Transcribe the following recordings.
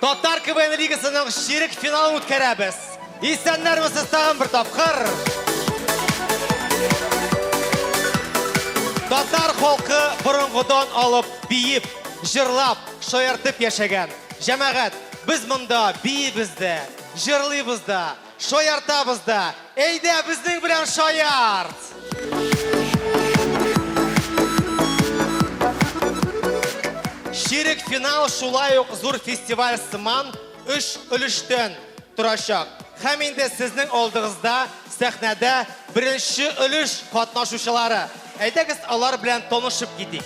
Татар КВН лигасының ширек финалын үткәрәбез. Исәннәрмесез тагын бер тапкыр. Татар халкы борынгыдан алып биеп, җырлап, шаяртып яшәгән. Җәмәгать, без монда биебез дә, җырлыйбыз да. Шаяртабыз да. Әйдә, безнең белән шаярт! Ширек финал шулай ук зур фестиваль сыман өч өлештән торачак. Һәм инде сезнең алдыгызда сәхнәдә беренче өлеш катнашучылары. Әйдәгез алар белән танышып китик.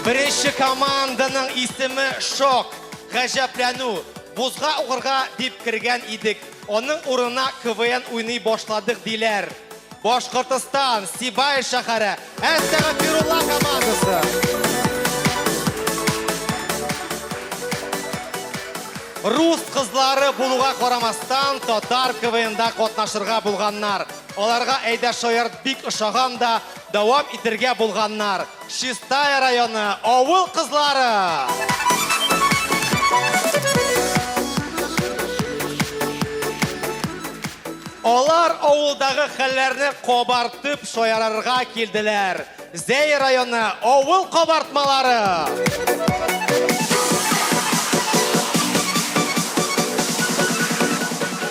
Беренче команданың исеме Шок, гаҗәпләнү. Бузга угырга дип кергән идек. Аның урынына КВН уйный башладык диләр. Башкортостан, Сибай шәһәре, Әстәгәфирулла командасы. Рус кызлары булуга карамастан, татар КВНда катнашырга булганнар. Аларга Әйдә шаярт бик ошаган да, дәвам итергә булганнар. Чистая районы авыл кызлары! Алар авылдагы хәлләрне кабартып шаярырга килделәр. Зәй районы авыл кабартмалары.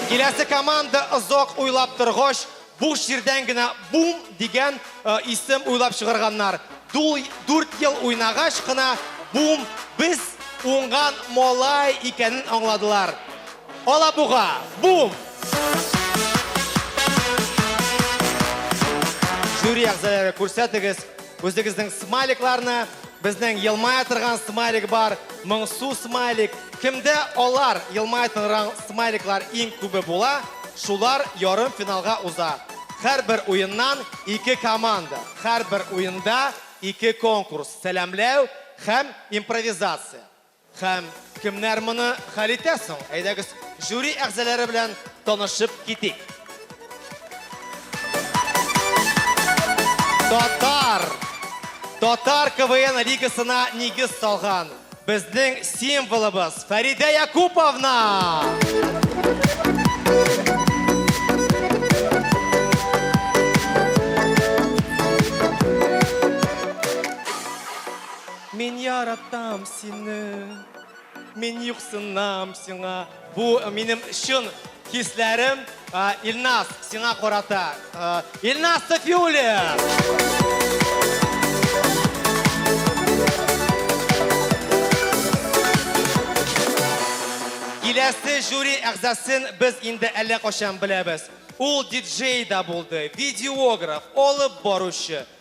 Киләсе команда озак уйлап торгач, Буш җирдән генә Бум дигән исем уйлап чыгарганнар. Дүрт ел уйнагач кына Бум без уңган малай икәнен аңладылар. Алабуга, Бум! Жюри әгъзалары, күрсәтегез, Үзегезнең смайликларны, безнең елмая торган смайлик бар, моңсу смайлик. Кемдә алар, елмая торган смайликлар иң күбе була, шулар ярым финалга уза. Һәрбер уеннан ике команда, һәрбер уенда ике конкурс, сәламләү һәм импровизация. Һәм кемнәр моны хәл итә соң? Әйдәгез, жюри әгъзалары белән танышып китик. Татар! Татар КВН лигасына нигез салган безнең символыбыз Фәридә Якуповна! Мин яратам сине, мин юксынам сиңа. Бу минем чын хисләрем Илназ сиңа карата. Илназ Сафиуллин! Киләсе жюри әгъзасын без инде әллә качан беләбез. Ул диджей да булды, видеограф, алып баручы,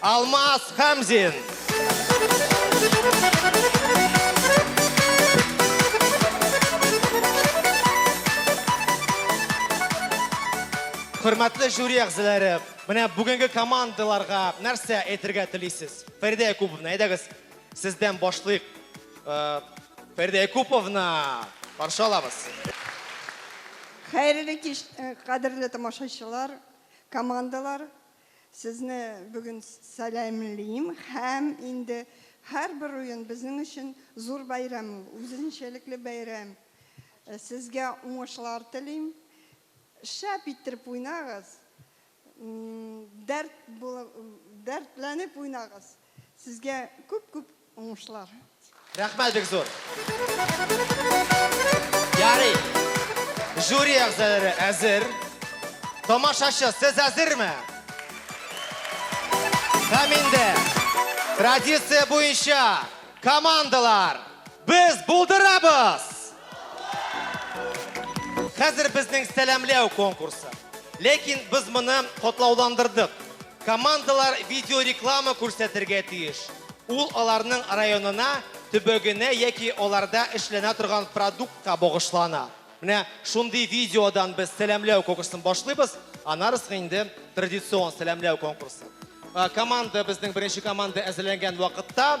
Алмаз Хәмзин. Хөрмәтле жюри әгъзалары, менә бүгенге командаларга нәрсә әйтергә телисез? Фәридә Якуповна, әйдәгез, сездән башлыйк. Э, Фәридә Якуповна, каршы алабыз. Хәерле кич, э, кадерле тамашачылар, командалар. Сезне бүген сәламлим һәм инде һәрбер уен безнең өчен зур бәйрәм ул, үзенчәлекле бәйрәм. Сезгә уңышлар телим. Шәп иттереп уйнагыз, дәрт, дәртләнеп уйнагыз. Сезгә күп күп уңышлар. Рәхмәт бик зур. Ярый. Жюри әгъзалары әзер. Тамашачы, сез әзерме? Һәм инде традиция буенча командалар без булдырабыз! Хәзер безнең сәламләү конкурсы. Ләкин без моны котлауландырдык. Командалар видеореклама күрсәтергә тиеш. Ул аларның районына, төбәгенә яки аларда эшләнә торган продуктка багышлана. Менә шундый видеодан без сәламләү конкурсын башлыйбыз, аннары соң инде традицион сәламләү конкурсы. Команда безнең беренче команда әзерләнгән вакытта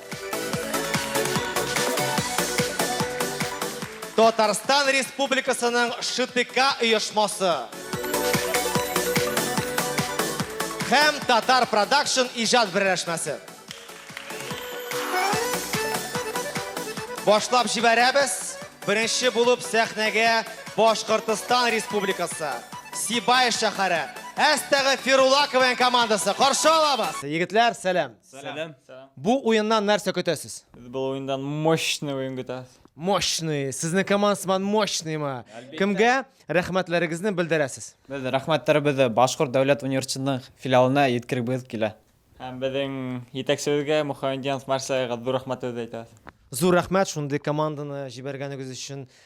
Татарстан Республикасының ШТК оешмасы һәм Татар Продакшн иҗат берләшмәсе. Башлап җибәрәбез. Беренче булып сәхнәгә Башкортостан Республикасы, Сибай шәһәре, Әстәгы Фирулакованың командасы каршы алабыз. Егетләр, сәлам! Сәлам. Бу уеннан нәрсә көтәсез? Без бу уеннан мощный уен көтәбез. Мощный. Сезнең команда сыман мощныймы? Кемгә рәхмәтләрегезне белдерәсез? Без рәхмәтләребезне Башкорт дәүләт университетының филиалына җиткерегебез килә. Һәм безнең җитәкчебезгә Мухаммедьянов Марселга зур рәхмәтләребезне әйтәбез. Зур рәхмәт шундый команданы җибәргәнегез өчен.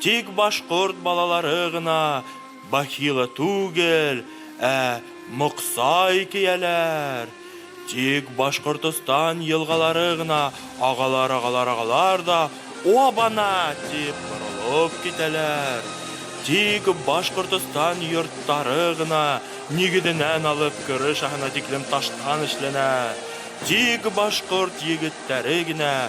Тик башкорт балалары гына бахила түгел, ә моксай кияләр. Тик Башкортостан елгалары гына агалар-агалар-агалар да Оба-на! дип борылып китәләр. Тик Башкортостан йорттары гына нигезенән алып крышаһына тиклем таштан эшләнә. Тик башкорт егеттәре генә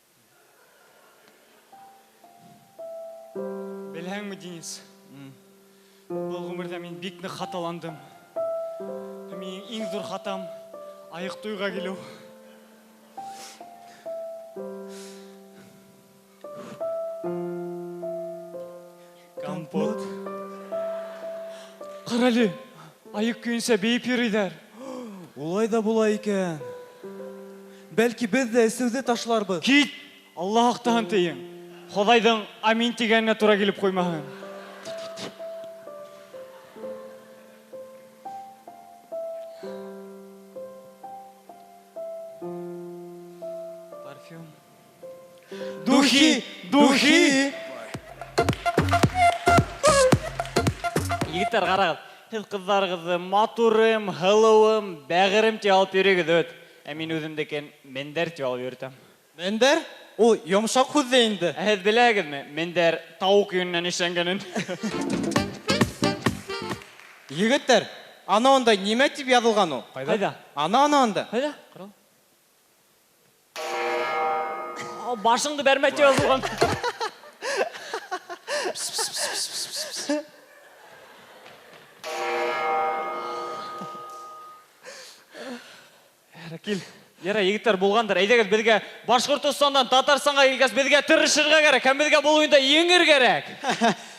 Беләңме, Денис? Бу гомердә мин бик нык хаталандым. Һәм минем иң зур хатам аек туйга килү. Компот. Карале, аек көенчә биеп йөриләр. Улай да була икән. Бәлки без дә эсүде ташларбыз. Кит! Алла актан тиең. Ходайдың амин дигәненә туры килеп куймаһын. Парфюм. Духи, духи! Егетләр, карагыз, сез кызларыгызны матурым, һылуым, бәгырем дип алып йөрегез бит. Ә мин үземнекен мендәр дип алып йөртәм. Мендәр? Ул йомшак һүз дә инде. Ә сез беләгезме, мендәр тавык йоныннан эшләнгәнен? Егетләр, аны анда нимә дип язылган ул? Кайда? Аны, аны анда. Кайда? Карагыз. Башыңды бәрмә дип язылган. Кил. Яра, егетләр булгандыр. Әйдәгез безгә Башкортостаннан Татарстанга килгәс, безгә тырышырга кирәк һәм безгә бу уенда еңер кирәк.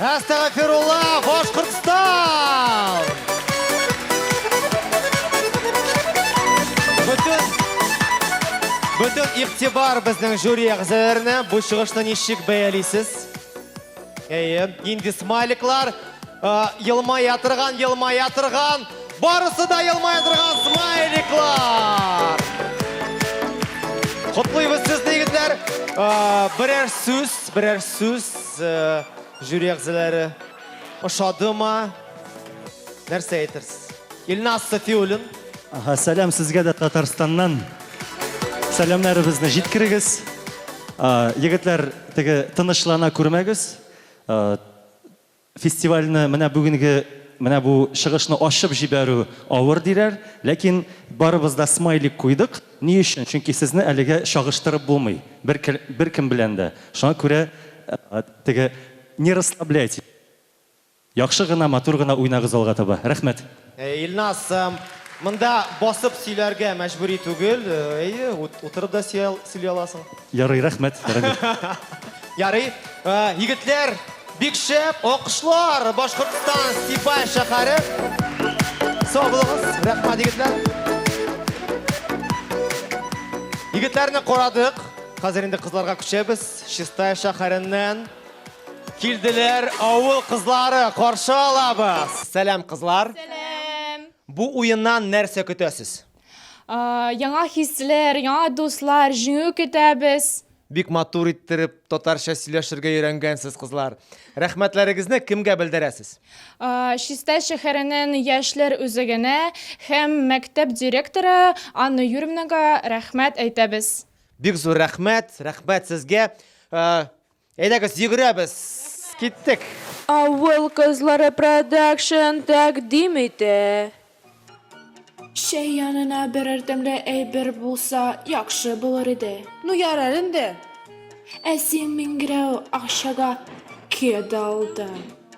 Әстәгәфирулла, Башкортстан! Бөтен Бөтен игътибар безнең жюри әгъзаларына. Бу чыгышны ничек бәялисез? Әйе, инде смайликлар, э, елмая торган, елмая торган, барысы да елмая торган смайликлар. Котлыйбыз сезне, егетләр. Э, Берәр сүз, берәр сүз. Жюри әгъзалары ошадымы? Нәрсә әйтерсез? Илназ Сафиуллин. Ага, сәлам сезгә дә Татарстаннан. Сәламнәребезне җиткерегез. Егетләр, теге тынычлана күрмәгез. Фестивальне менә бүгенге менә бу чыгышны ачып җибәрү авыр диләр, ләкин барыбыз да смайлик куйдык. Ни өчен? Чөнки сезне әлегә чагыштырып булмый бер беркем белән дә. Шуңа күрә теге не расслабляйтесь. Яхшы гына, матур гына уйнагыз алга таба. Рәхмәт. Әйе, Илназ, монда басып сөйләргә мәҗбүри түгел. Әйе, утырып да сөйли аласың. Ярый, рәхмәт, Рамил. Ярый, егетләр, бик шәп, алкышлар, Башкортстан, Степай шәһәре. Сау булыгыз, рәхмәт, егетләр. Егетләрне карадык, хәзер инде кызларга күчәбез. Чистай шәһәреннән килделәр авыл кызлары, каршы алабыз. Сәлам, кызлар. Сәлам. Бу уеннан нәрсә көтәсез? яңа хисләр, яңа дуслар, җиңү көтәбез. Бик матур иттереп татарча сөйләшергә өйрәнгәнсез, кызлар. Рәхмәтләрегезне кемгә белдерәсез? Чистай шәһәренең яшьләр үзәгенә һәм мәктәп директоры Анна Юрьевнага рәхмәт әйтәбез. Бик зур рәхмәт, рәхмәт сезгә. Әйдәгез, йөгерәбез! Киттек! Авыл кызлары продакшн тәкъдим итә. Чәй янына берәр тәмле әйбер булса, яхшы булыр иде. Ну ярар инде. Ә син миңгерәү акчага кедалдың.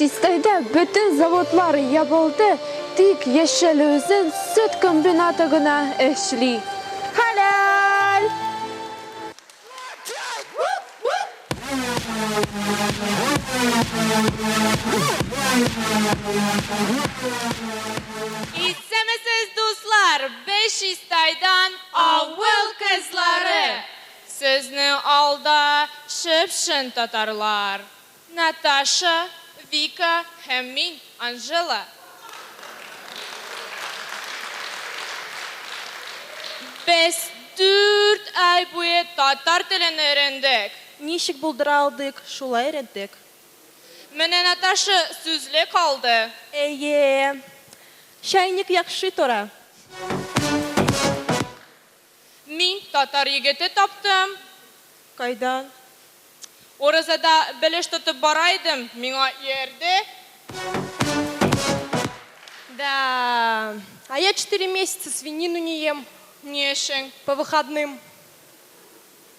Чистайда бөтен заводлар ябылды, тик Яшәлүзен сөт комбинаты гына эшли. Хәләл! Исәнмесез, дуслар! Бешистайдан авыл кызлары! Сезнең алда чып-чын татарлар! Наташа, Вика һәм мин, Анжела. Без дүрт ай буе татар телен өйрәндек. Ничек булдыра алдык, шулай өйрәттек. Менә Наташа сүзлек алды. Әйе. Чайник яхшы тора. Мин татар егете таптым. Кайдан? Уразада белеш тотып бара идем, миңа иярде. Да. А я четыре месяца свинину не ем. Ни өчен? По выходным.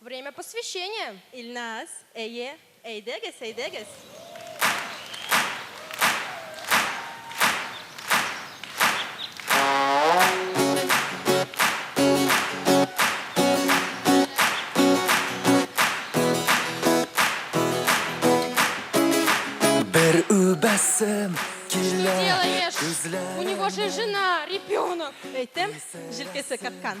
Время посвящения! Илназ, әйе, әйдәгез, әйдәгез! Бер үбәсем килә. Делаешь? У него же жена, ребенок. Әйтәм, җилкәсе каткан.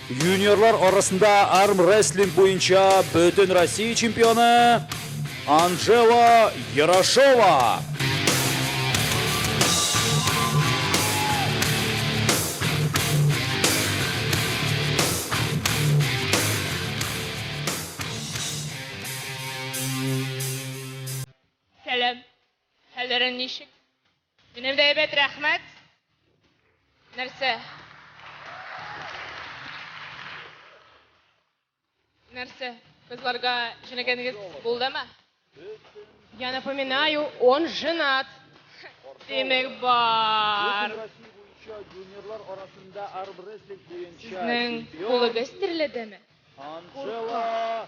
Юниорлар арасында армрестлинг буенча бөтен Россия чемпионы Анжела Ярошова. Минем дә әйбәт, рәхмәт. Нәрсә? Нәрсә? Кызларга җенәгәнегез булдымы? Я напоминаю, он женат. Димәк бар. Юниорлар арасында армрестлинг буенча Сезнең кулыгыз терледеме? Анжела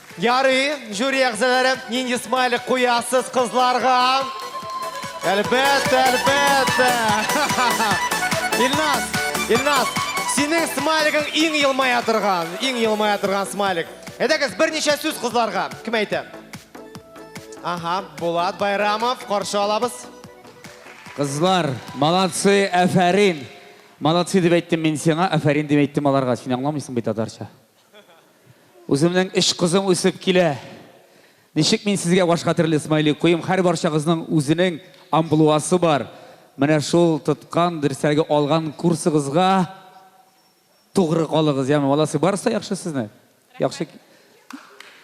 Ярый, жюри әгъзалары, нинди смайлик куясыз кызларга? Әлбәттә, әлбәттә. Илназ, Илназ, синең смайлигың иң елмая торган, иң елмая торган смайлик. Әйдәгез, берничә сүз кызларга. Кем әйтә? Ага, Булат Байрамов, каршы алабыз. Кызлар, молодцы, әфәрин. Молодцы дип әйттем мин сиңа, әфәрин дип әйттем аларга. Син аңламыйсың бит татарча. Үземнең өч кызым үсеп килә. Ничек мин сезгә башка төрле смайлик куйым? Хәр барчагызның үзенең амблуасы бар. Менә шул тоткан, дөресрәге алган курсыгызга тугры калыгыз, яме, молодцы. Барысы да яхшы сезне. Яхшы.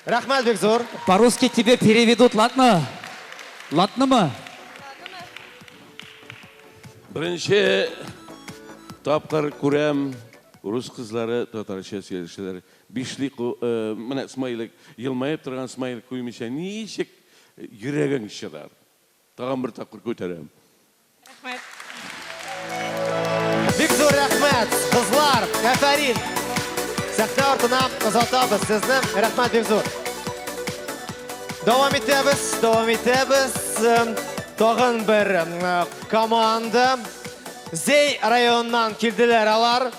Рәхмәт бик зур. По-русски тебе переведут, ладно? Ладнымы? Беренче тапкыр күрәм. Урыс кызлары татарча сөйләшәләр. Бишли ку ы Менә смайлик, елмаеп торган смайлик куймыйча ничек йөрәгең чыдар? Тагын бер тапкыр күтәрәм. Рәхмәт. Бик зур рәхмәт, кызлар! Әфәрин! Сәхнә артына озатабыз сезне. Рәхмәт бик зур! Дәвам итәбез, дәвам итәбез. Тагын бер команда. Зәй районыннан килделәр алар.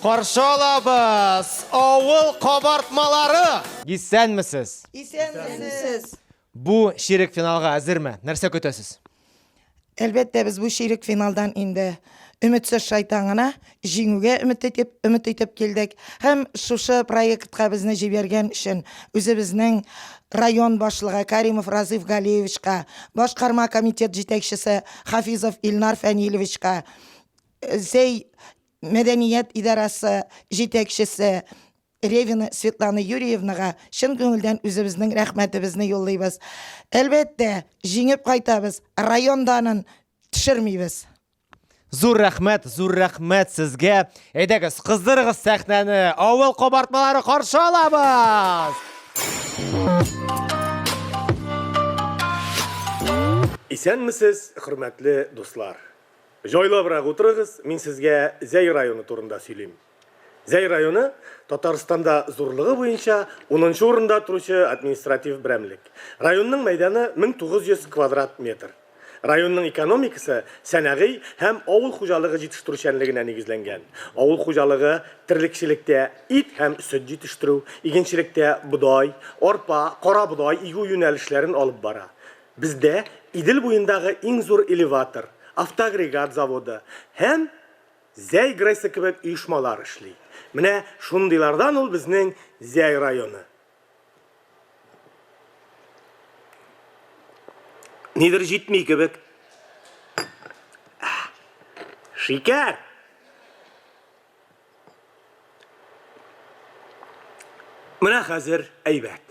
Каршы алабыз! Авыл кабартмалары! Исәнмесез! Исәнмесез! Бу чирек финалга әзерме? Нәрсә көтәсез? Әлбәттә, без бу чирек финалдан инде өметсез шайтан гына җиңүгә өмет итеп, өмет итеп килдек. Һәм шушы проектка безне җибәргән өчен үзебезнең район башлыгы Каримов Разыйф Галиевичка, башкарма комитет җитәкчесе Хафизов Илнар Фәнилевичка, Зәй мәдәният идарәсе җитәкчесе Ревина Светлана Юрьевнага чын күңелдән үзебезнең рәхмәтебезне юллыйбыз. Әлбәттә, җиңеп кайтабыз, район данын төшермибез. Зур рәхмәт, зур рәхмәт сезгә! Әйдәгез, кыздырыгыз сәхнәне, авыл кабартмалары каршы алабыз! Исәнмесез, хөрмәтле дуслар! Җайлабрак утырыгыз, мин сезгә Зәй районы турында сөйлим. Зәй районы, Татарстанда зурлыгы буенча унынчы урында торучы административ берәмлек. Районның мәйданы 1900 квадрат метр. Районның экономикасы сәнәгый һәм авыл хуҗалыгы җитештерүчәнлегенә нигезләнгән. Авыл хуҗалыгы, терлекчелектә, ит һәм сөт җитештерү, игенчелектә, бодай, арпа, карабодай игү юнәлешләрен алып бара. Бездә Идел буендагы иң зур элеватор, автоагрегат заводы һәм Зәй ГРЭСы кебек оешмалар эшли. Менә шундыйлардан ул безнең Зәй районы. Нидер җитми кебек. Шикәр! Менә хәзер әйбәт.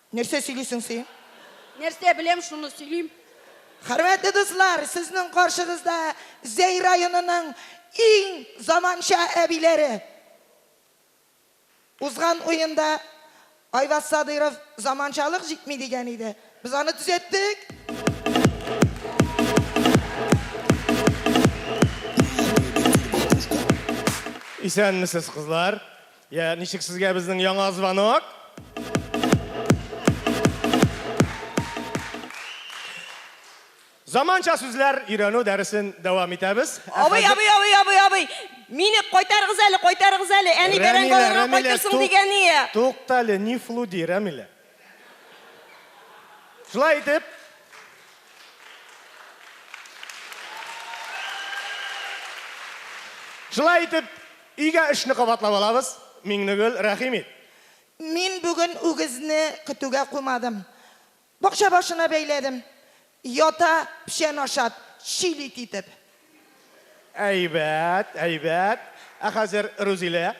Нәрсә сөйлисең си? Нәрсә беләм, шуны сөйлим. Хөрмәтле дуслар, сезнең каршыгызда Зәй районының иң заманча әбиләре. Узган уенда Айваз Садыйров заманчалык җитми дигән иде. Без аны төзәттек. Исәнмесез, кызлар. Я, ничек сезгә безнең яңа звонок? Заманча сүзләр өйрәнү дәресен дәвам итәбез. Абый, абый, абый, абый, абый. Мине кайтарыгыз әле, кайтарыгыз әле. Әни бәрән баларга кайтырсың дигән ие. Туктале, не флуди, Рәмилә. Шулай итеп, Шулай итеп, өйгә эшне кабатлап алабыз. Миңнегөл, рәхим ит. Мин бүген үгезне көтүгә куймадым. Бакча башына бәйләдем. Ята, печән ашап, чил ит итеп. Әйбәт, әйбәт. Ә хәзер, Рузилә,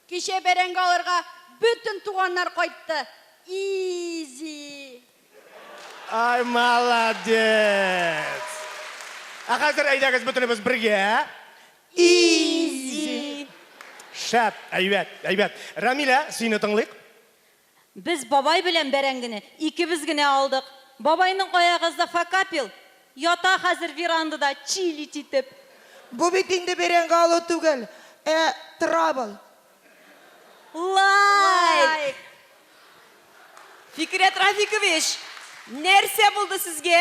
Кичә бәрәңге алырга бөтен туганнар кайтты. Изи. Ай молодец! Ә хәзер әйдәгез бөтенебез бергә. Изи. Шәп, әйбәт, әйбәт. Рәмилә, сине тыңлыйк. Без бабай белән бәрәңгене икебез генә алдык. Бабайның аягызда факапил, ята хәзер верандада чилить итеп. Бу бит инде бәрәңге алу түгел, ә травл. Лайк! Фикерят Рафикович, нәрсә булды сезгә?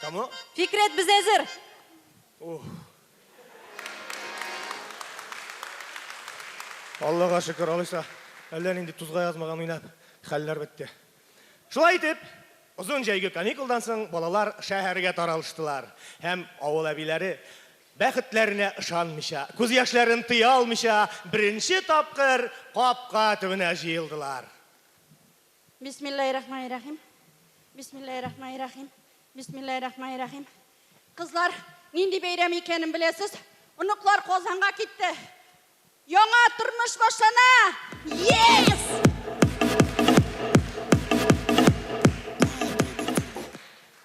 Кому? Фикрәт, без әзер! Ух. Аллага шөкер, алайса, әллә нинди тузга язмаган уйнап, хәлләр бетте. Шулай итеп, озын җәйге каникулдан соң балалар шәһәргә таралыштылар һәм авыл әбиләре Бәхетләренә ышанмыйча, күз яшьләрен тыя алмыйча, беренче тапкыр капка төбенә җыелдылар. Бисмиллаһиррахманиррахим. Бисмиллаһиррахманиррахим. Бисмиллаһиррахманиррахим. Кызлар, нинди бәйрәм икәнен беләсез? Оныклар Казанга китте. Яңа тормыш башлана! Yes!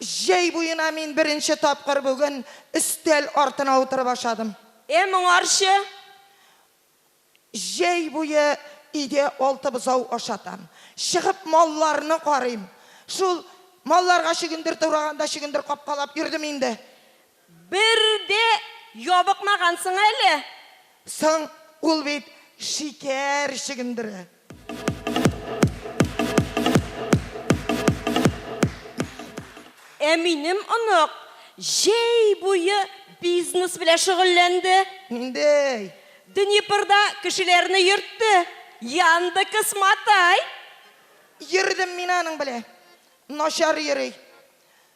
Җәй буена мин беренче тапкыр бүген өстәл артына утырып ашадым. Э, моңарчы? Җәй буе өйдә алты бозау ашатам. Чыгып малларны карыйм. Шул малларга чөгендер тураганда чөгендер капкалап йөрдем инде. Бер дә ябыкмагансың әле. Соң, ул бит шикәр чөгендере. Ә минем онык җәй буе бизнес белән шөгыльләнде. Ниндей? Днепрда кешеләрне йөртте. Яндекс Матай. Йөрдем мин аның белән. Начар йөри.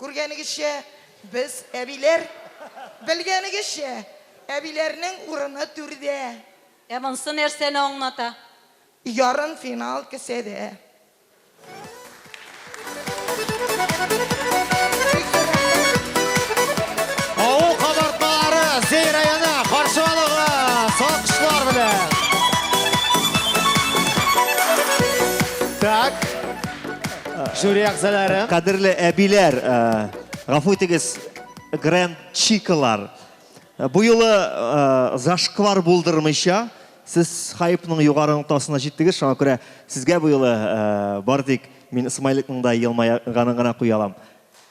Күргәнегезчә, без, әбиләр, белгәнегезчә, әбиләрнең урыны түрдә. Ә монсы нәрсәне аңлата? Ярымфинал кесәдә. Авыл кабартмалары Зәй районы каршы алыгыз алкышлар белән! Так. Жюри әгъзалары. Кадерле әбиләр, э, гафу итегез, гранд чикалар. Э, бу юлы э, зашквар булдырмыйча, сез хайпның югары ноктасына җиттегез, шуңа күрә сезгә бу юлы бар тик мин смайликның да елмайганын гына куя алам.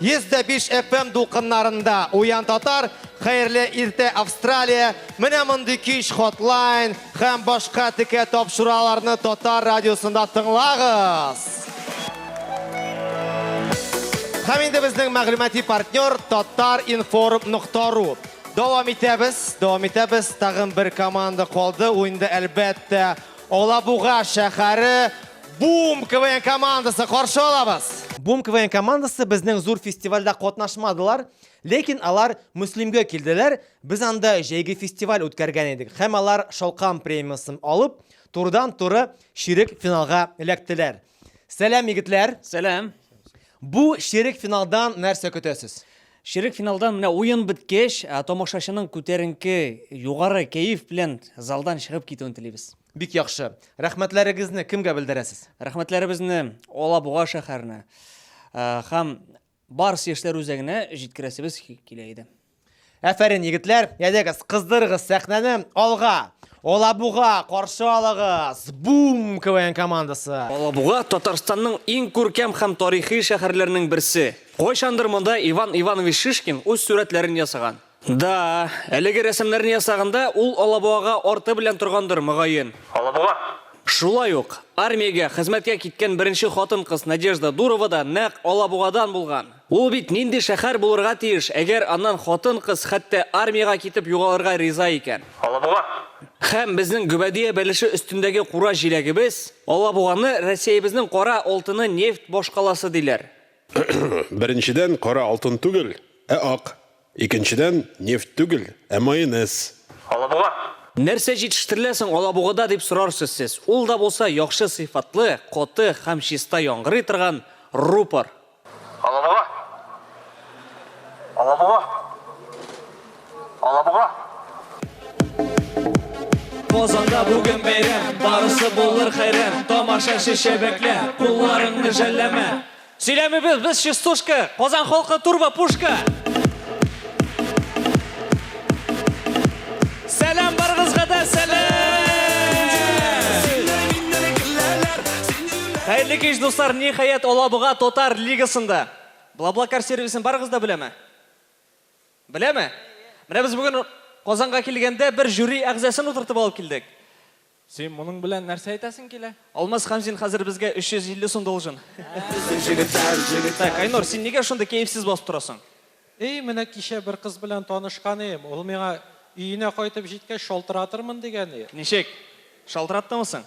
105 FM дулкыннарында Уян татар, Хәерле иртә Австралия, менә мондый кич хотлайн һәм башка текә тапшыраларны Татар радиосында тыңлагыз. Һәм инде безнең мәгълүмати партнер tatarinform.ru. Дәвам итәбез, дәвам итәбез. Тагын бер команда калды. Уенда әлбәттә Алабуга шәхәре Бум КВН командасы каршы алабыз! Бум КВН командасы безнең зур фестивальдә катнашмадылар, ләкин алар Мөслимгә килделәр, без анда җәйге фестиваль үткәргән идек һәм алар Шалкан премиясын алып, турыдан-туры чирек финалга эләктеләр. Сәлам, егетләр! Сәлам! Бу ширек финалдан нәрсә көтәсез? Ширек финалдан менә уен беткәч, тамашачының күтәренке, югары кәеф белән залдан чыгып китүен телибез. Бик яхшы. Рәхмәтләрегезне кемгә белдерәсез? Рәхмәтләребезне Алабуга шәһәренә һәм Барс яшьләр үзәгенә җиткерәсебез килә иде. Әфәрин, егетләр, ядегез, кыздырыгыз сәхнәне, алга! Алабуга, каршы алыгыз! Бум, КВН командасы! Алабуга, Татарстанның иң күркәм һәм тарихи шәһәрләренең берсе. Кайчандыр монда Иван Иванович Шишкин үз сурәтләрен ясаган. Да, әлеге рәсемнәрне ясаганда ул Алабугага арты белән торгандыр, мөгаен. Алабуга! Шулай ук, армиягә хезмәткә киткән беренче хатын-кыз Надежда Дурова да нәкъ Алабугадан булган. Ул бит нинди шәһәр булырга тиеш, әгәр аннан хатын-кыз хәтта армиягә китеп югалырга риза икән? Алабуга! Һәм безнең Гөбәдия бәлеше өстендәге кура җиләгебез, Алабуганы Россиябезнең кара алтыны, нефть башкаласы диләр. Беренчедән, кара алтын түгел, ә ак. Икенчедән, нефть түгел, ә майонез. Алабуга! Нәрсә җитештерелә соң Алабугада, дип сорарсыз сез. Ул да булса, яхшы сыйфатлы, каты һәм чиста яңгырый торган рупор. Алабуга! Алабуга! Алабуга. Казанда бүген бәйрәм, барысы булыр хәйран, тамаша шешә бәклә, кулларыңны жәлләмә. Сөйләмибез без частушка, Казан халкы турба пушка. Сәлам барыгызга да сәлам. Хәерле кич, дуслар, ниһаять Алабуга татар лигасында. Блаблакар сервисын барыгыз да беләме? Беләме? Менә без бүген Казанга килгәндә бер жюри әгъзасын утыртып алып килдек. Син моның белән нәрсә әйтәсең килә? Алмаз Хәмзин хәзер безгә 350 сум должен. Безнең җегетләр, җегетләр. Так, Айнур, син нигә шундый кәефсез басып торасың? Эй, менә кичә бер кыз белән танышкан идем, ул миңа, Өенә кайтып җиткәч шалтыратырмын, дигән иде. Ничек? Шалтыраттымы соң?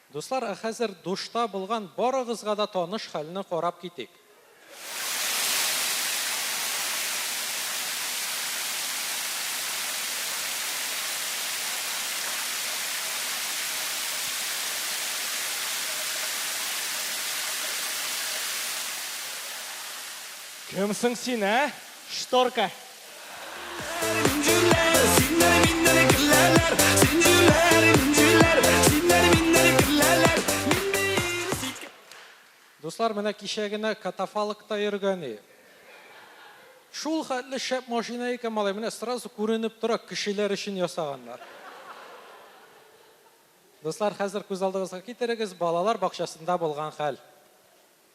Дуслар, ә хәзер душта булган барыгызга да таныш хәлне карап китик. Кем соң син, ә? Шторка. Дуслар, менә кичә генә катафалкта йөргәне. Шул хәтле шәп машина икән, малай, менә сразу күренеп тора, кешеләр өчен ясаганнар. Дуслар, хәзер күз алдыгызга китерегез, балалар бакчасында булган хәл.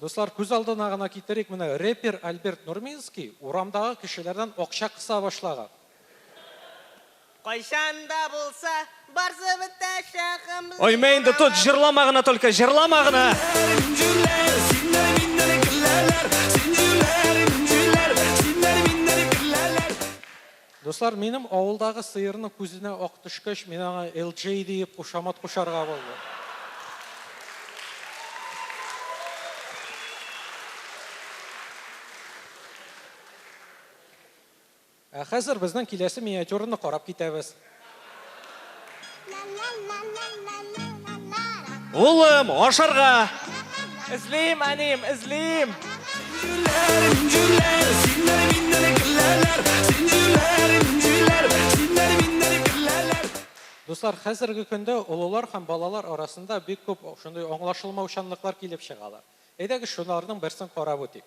Дуслар, күз алдына гына китерик, менә рэпер Альберт Нурминский урамдагы кешеләрдән акча кыса башлаган. Кайчан да булса, барсы бетәчәк гомле. Оймә инде, тот, җырлама гына только, җырлама гына! Дуслар, минем авылдагы сыерның күзенә ак төшкәч, мин аңа LJ диеп кушамат кушарга булдым. Ә хәзер безнең киләсе миниатюраны карап китәбез. Улым, ашарга! Эзлим, әнием, эзлим! Дуслар, хәзерге көндә олылар һәм балалар арасында бик күп шундый аңлашылмаучанлыклар килеп чыгалар. Әйдәгез, шуларның берсен карап үтик.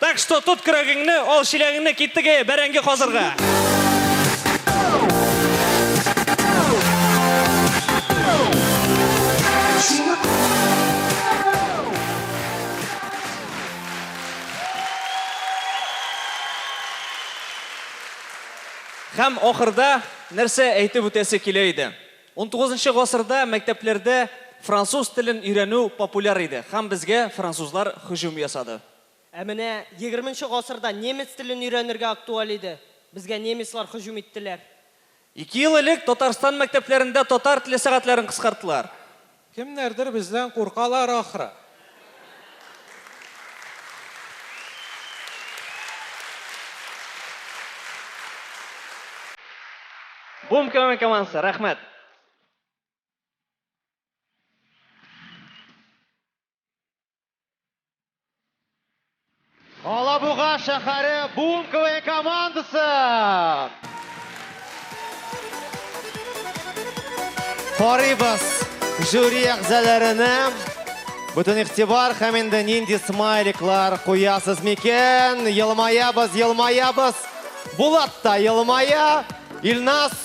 Так что тот көрәгеңне, ал чиләгеңне кит теге бәрәңге казырга. Һәм ахырда нәрсә әйтеп үтәсе килә иде? Унтугызынчы гасырда мәктәпләрдә француз телен өйрәнү популяр иде һәм безгә французлар һөҗүм ясады. Ә менә егерменче гасырда немец телен өйрәнергә актуаль иде, безгә немецлар һөҗүм иттеләр. Ике ел элек Татарстан мәктәпләрендә татар теле сәгатьләрен кыскарттылар. Кемнәрдер бездән куркалар ахры. Бум КВН командасы, рәхмәт! Алабуга шәһәре Бум КВН командасы! Карыйбыз жюри әгъзаларына. Бүтән игътибар һәм инде нинди смайликлар куясыз микән? Елмаябыз, елмаябыз. Булат та елмая. Илназ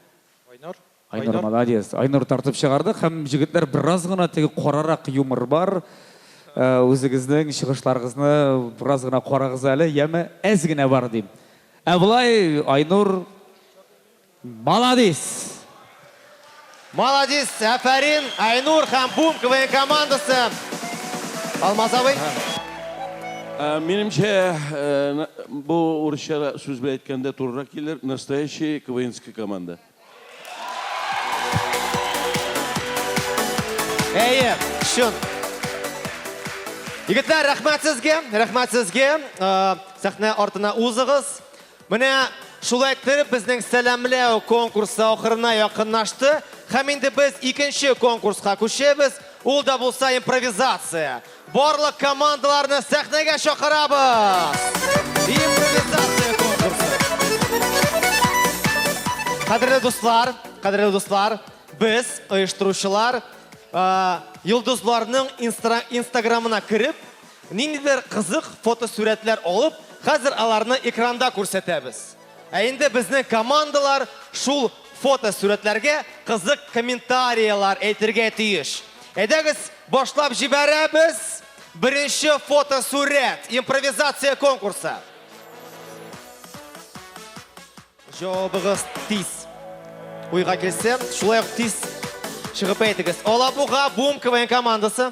Айнур. Айнур молодец. Айнур тартып чыгардык һәм җегетләр бераз гына теге карарак юмор бар. Үзегезнең чыгышларыгызны бераз гына карагыз әле, яме әз генә бар дим. Ә болай Айнур молодец. Молодец, әфәрин, Айнур һәм Бум КВН командасы. Алмаз абый. Ә, Минемчә, э, на- бу урысча сүз белән әйткәндә турырак килер. Настоящий КВНская команда. Әйе, чын. Егетләр, рәхмәт сезгә, рәхмәт сезгә. Э, Сәхнә артына узыгыз. Менә шулай иттереп безнең сәламләү конкурсы ахырына якынлашты. Һәм инде без икенче конкурска күчәбез. Ул да булса импровизация. Барлык командаларны сәхнәгә чакырабыз. Импровизация конкурсы. Кадерле дуслар, кадерле дуслар, без оештыручылар йолдызларның инстаграмына кереп, Ниндидер кызык фотосурәтләр алып, хәзер аларны экранда күрсәтәбез. Ә инде безнең командалар шул фотосурәтләргә кызык комментарияләр әйтергә тиеш. Әйдәгез, башлап җибәрәбез! Беренче фотосурәт, импровизация конкурсы. Җавабыгыз тиз. Уйга килсә, шулай ук тиз чыгып әйтегез. Алабуга Бум КВН командасы.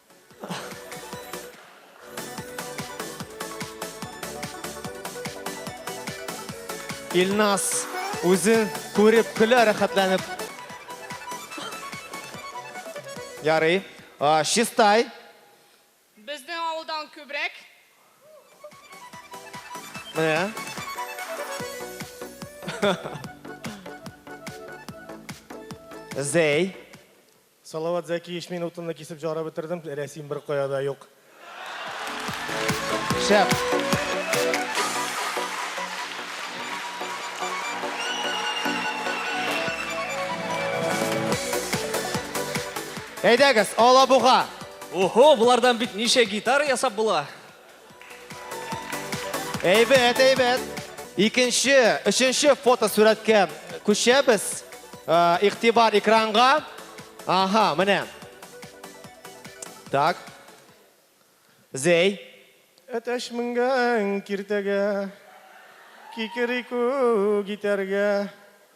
Илнас үзен күреп көлә рәхәтләнеп. Ярый. Чистай. Безнең авылдан күбрәк. Менә. Зәй. Салават Зәкиевич мин утынны кисеп җара бетердем, рәсим бер кая да юк. Шәп. Әйдәгез, Алабуга. Охо, болардан бит ничә гитара ясап була. Әйбәт, әйбәт. Икенче, өченче фотосурәткә күчәбез. Ә, Игътибар экранга. Ага, менә. Так. Зәй. Әтәч менгән киртәгә, кикерику китәргә.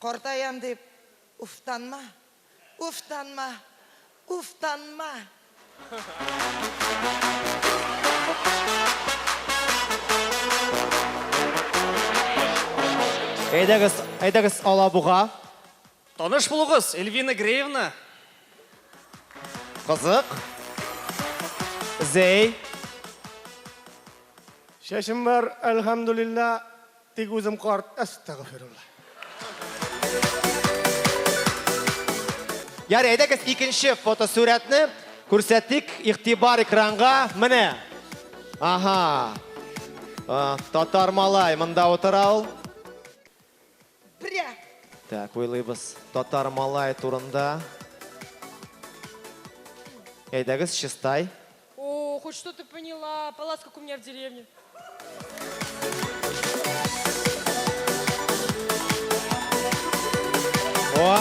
Картаям дип уфтанма, уфтанма, уфтанма! Әйдәгез, әйдәгез Алабуга. Таныш булугыз, Эльвина Греевна. Кызык. Зәй. Чәчем бар, әлхәмдүлиллә. Тик үзем карт, әстәгъфирулла. Ярый, әйдәгез икенче фотосурәтне күрсәтик, игътибар экранга, менә. Аһа. А, татар малай монда утыра ул. Бря. Так, уйлыйбыз татар малай турында. Әйдәгез, чистай. О, хоть что-то поняла. Палац, как у меня в деревне. О.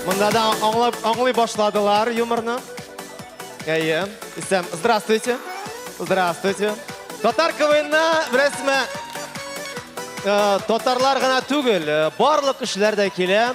Мында да аңлап, аңлый башладылар юморны. Әйе. Исәм, здравствуйте. Здравствуйте. Татар КВНна беләсезме? Э, татарлар гына түгел, э, барлык кешеләр дә килә.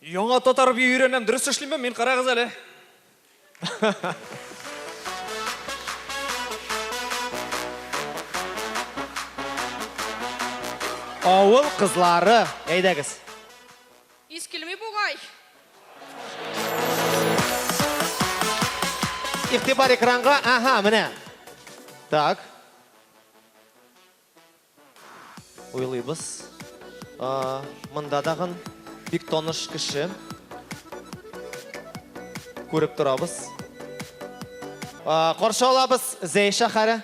Яңа татар бию өйрәнәм, дөрес эшлимме мин, карагыз әле. Авыл кызлары, әйдәгез. Ис килми бугай. Игътибар экранга, аһа, менә. Так. Уйлыйбыз. Монда тагын бик таныш кеше. Күреп торабыз. Каршы алабыз Зәй шәһәре.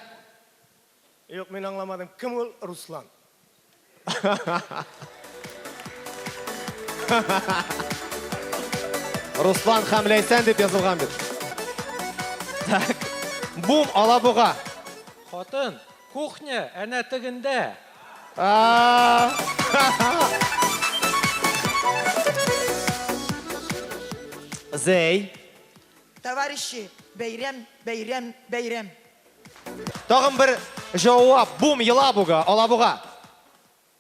Юк, мин аңламадым. Кем ул Руслан? Руслан һәм Ләйсән дип язылган бит. Так. Бум, Алабуга. Хатын, Кухня әнә тегендә! Зәй. Товарищи, бәйрәм, бәйрәм, бәйрәм. Тагын бер җавап. Бум, елабуга, алабуга.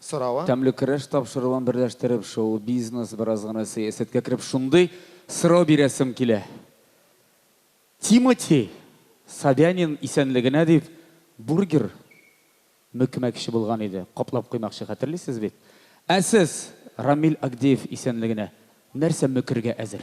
сорава. Тәмле көрәш тапшыруын берләштереп, шоу-бизнес, бераз гына сәясәткә кереп, шундый сорау бирәсем килә. Тимати Собянин исәнлегенә дип бургер мөкмәкче булган иде, каплап куймакчы, хәтерлисез бит? Ә сез Рамил Агдеев исәнлегенә нәрсә мөкергә әзер?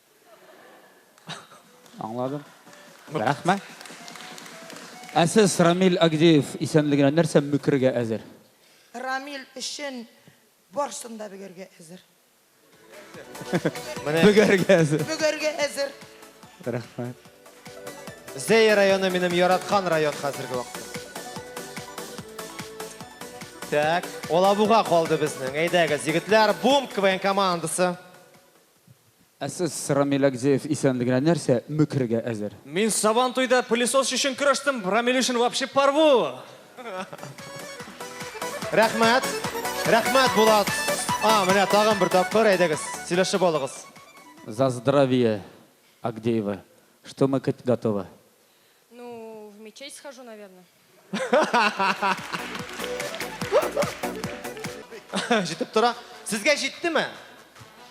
Аңладым. Рәхмәт. Ә сез Рамил Агдеев исәнлегенә нәрсә мөкергә әзер? Рамил өчен барсын да бөгәргә әзер. Бөгәргә әзер. Бөгәргә әзер. Рәхмәт. Зәй районы минем яраткан район хәзерге вакытта. Так, Алабуга калды безнең. Әйдәгез, егетләр, бум КВН командасы. Ә сез, Рамил Агдеев, исәнлегенә нәрсә мөкрергә әзер? Мин Сабантуйда пылесос өчен көрәштем, Рамил өчен вообще порву! Рәхмәт! Рәхмәт, Булат! А, менә тагын бер тапкыр, әйдәгез, сөйләшеп алыгыз. За здравие, Агдеева! Что мы кыт готовы? Ну, в мечеть схожу, наверное. Җитеп тора. Сезгә җиттеме?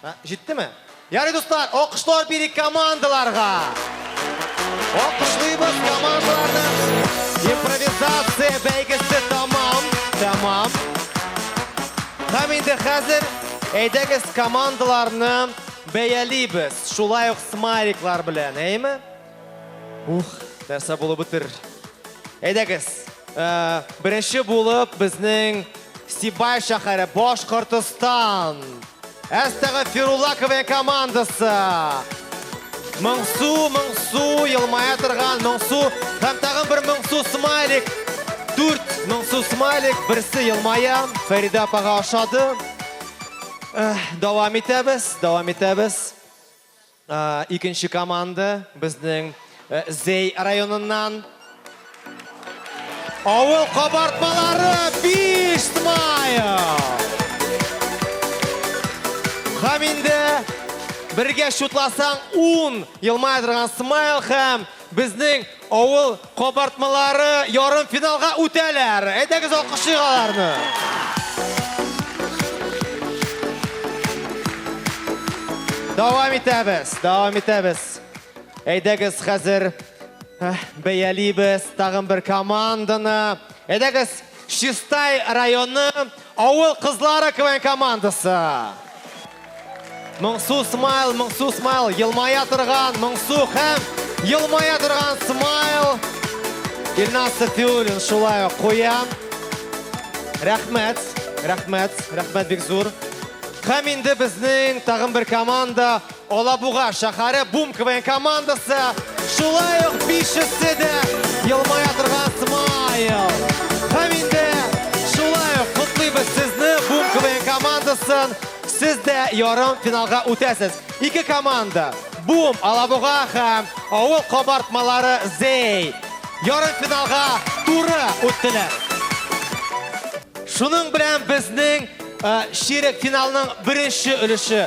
Ә, Җиттеме? Ярый, дуслар, алкышлар бери командаларга. Алкышлыйбыз командаларны. Импровизация бәйгесе тамам. Тамам. Һәм инде хәзер әйдәгез командаларны бәялибез. Шулай ук смайликлар белән, әйме? Ух, нәрсә булып бетер. Әйдәгез, э, беренче булып безнең Сибай шәһәре Башкортостан. Әстәгә Фирулаковая командасы. Моңсу, моңсу, елмая торган моңсу. Һәм тагын бер моңсу смайлик. Дүрт моңсу смайлик, берсе елмая. Фәридә апага ошады. Э, Дәвам итәбез, дәвам итәбез. Икенче команда безнең Зей районыннан. Авыл кабартмалары биш смайл. Һәм инде бергә шутласаң ун елмая торган смайл һәм Безнең авыл кабартмалары ярымфиналга үтәләр! Әйдәгез алкышлыйк аларны! Дәвам итәбез, дәвам итәбез. Әйдәгез хәзер бәялибез тагын бер команданы. Әйдәгез, Чистай районы Авыл кызлары КВН командасы. Моңсу смайл, моңсу смайл, елмая торган, моңсу һәм елмая торган смайл. Илназ Сафиуллин шулай ук куя. Рәхмәт, рәхмәт, рәхмәт бик зур. Һәм инде безнең тагын бер команда Алабуга шәһәре Бум КВН командасы, шулай ук бишесе дә елмая торган смайл. Һәм инде шулай ук котлыйбыз сезне Бум КВН командасын. Сез дә ярым финалга үтәсез. Ике команда, Бум Алабуга һәм авыл кабартмалары Зей, ярым финалга туры үттеләр. Шуның белән безнең чирек финалның беренче өлеше